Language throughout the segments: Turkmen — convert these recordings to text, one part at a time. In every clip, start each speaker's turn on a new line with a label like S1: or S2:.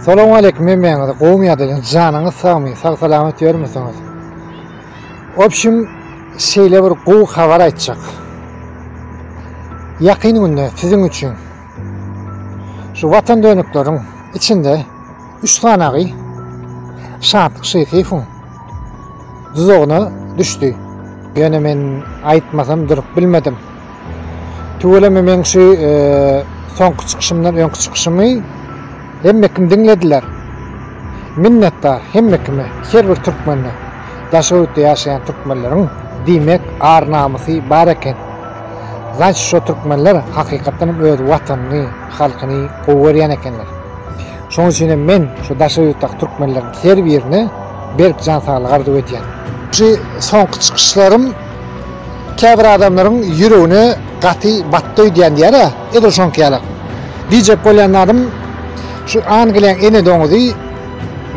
S1: Salam aleýkum hemmäňize gowmy ýadaýyň janyňyz sagmy sag salamat ýörmüsiňiz obşim şeýle bir gowy habar aýtjak ýakyn günde siziň üçin şu watan dönükleriň içinde üç sanagy şatlyk şeýsiýewiň duzagyna düşdi ýöne men aýtmasam durup bilmedim Tüweleme meň şu soňky çykyşymdan öňki çykyşymy hemme kim diňlediler. Minnetdar hemme kime, her bir türkmene. Daşoguzda ýaşaýan türkmenleriň diýmek ar-namysy bar eken. Значит, şo türkmenler hakykatdan hem öz watanyny, halkyny gowy görýän ekenler. Şonuň üçin hem men şu Daşoguzdaky türkmenleriň her birine berk jan saglyk arzuw edýän. Şu soňky çykyşlarym Käbir adamlaryň ýüregine gaty batdy öýdýän diýýär-ä, edil şoňky ýaly. Diýjek bolýan zadym, şu Angliýaň ene doňuzy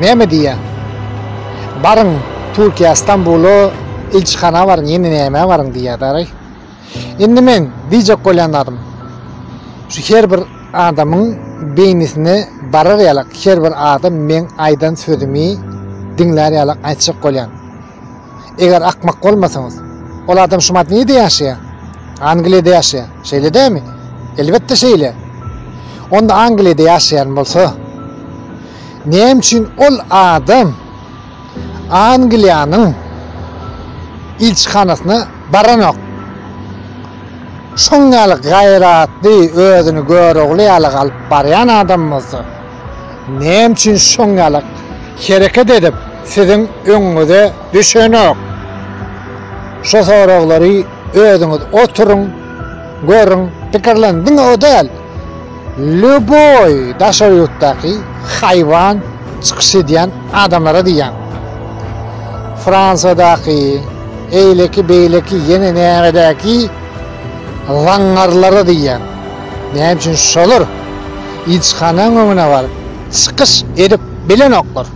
S1: näme diýýär? Baryň Türkiýä, Stambula ilçihana baryň, ýene nämä baryň diýýär daraý. Indi meň diýjek bolýan zadym, şu her bir adamyň beýnisine barar ýaly, her bir adam meň aýdan sözümi diňlär ýaly aýtjak bolýan. Eger akmak bolmasaňyz, ol adam şumat nirede ýaşaýar? Angliýada ýaşaýar. Şeýle dälmi? Elbetde şeýle. Onda Angliýada ýaşaýan bolsa, näme üçin ol adam Angliýanyň ilçihanasyna baranok? Şoň ýaly gaýratly, özüni görogly ýaly galyp barýan adam bolsa, Näme üçin şoň ýaly hereket edip siziň öňüňize düşenok? Şu soraglary özüňiz oturyň, görüň, pikirleniň. Diňe o däl, lýuboý daşary ýurtdaky haýwan çykyş edýän adamlara diýýän. Fransiýadaky, eýleki, beýleki, ýene nämedäki zaňňarlara diýýän. Näme üçin şolar? Ilçihanaň öňüne baryp çykyş edip bilenoklar.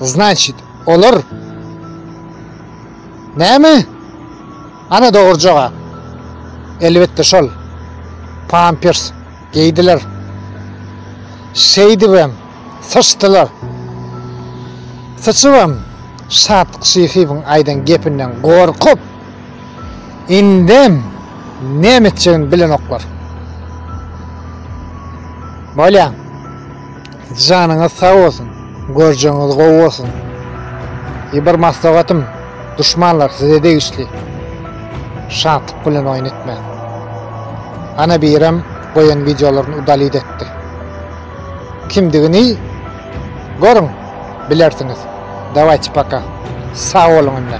S1: Znaçit, olar näme? Ana dogry jogap. Elbetde şol. Pampers geýdiler. Şeýdibem syçdylar. Syçybam Şatlyk Şyhybyň aýdan gepinden gorkup, Indem näme etjegini bilenoklar. Bolýa. Janyňyz sag bolsun. Görjegiňiz gowy bolsun. Ýe bir maslahatym, duşmanlar size degişli. Şatlyk bilen oýun etmäň. Ana birem goýan wideolaryny udalit etdi. Kimdigini görüň, bilersiňiz. Dawajy paka. Sag boluň indi.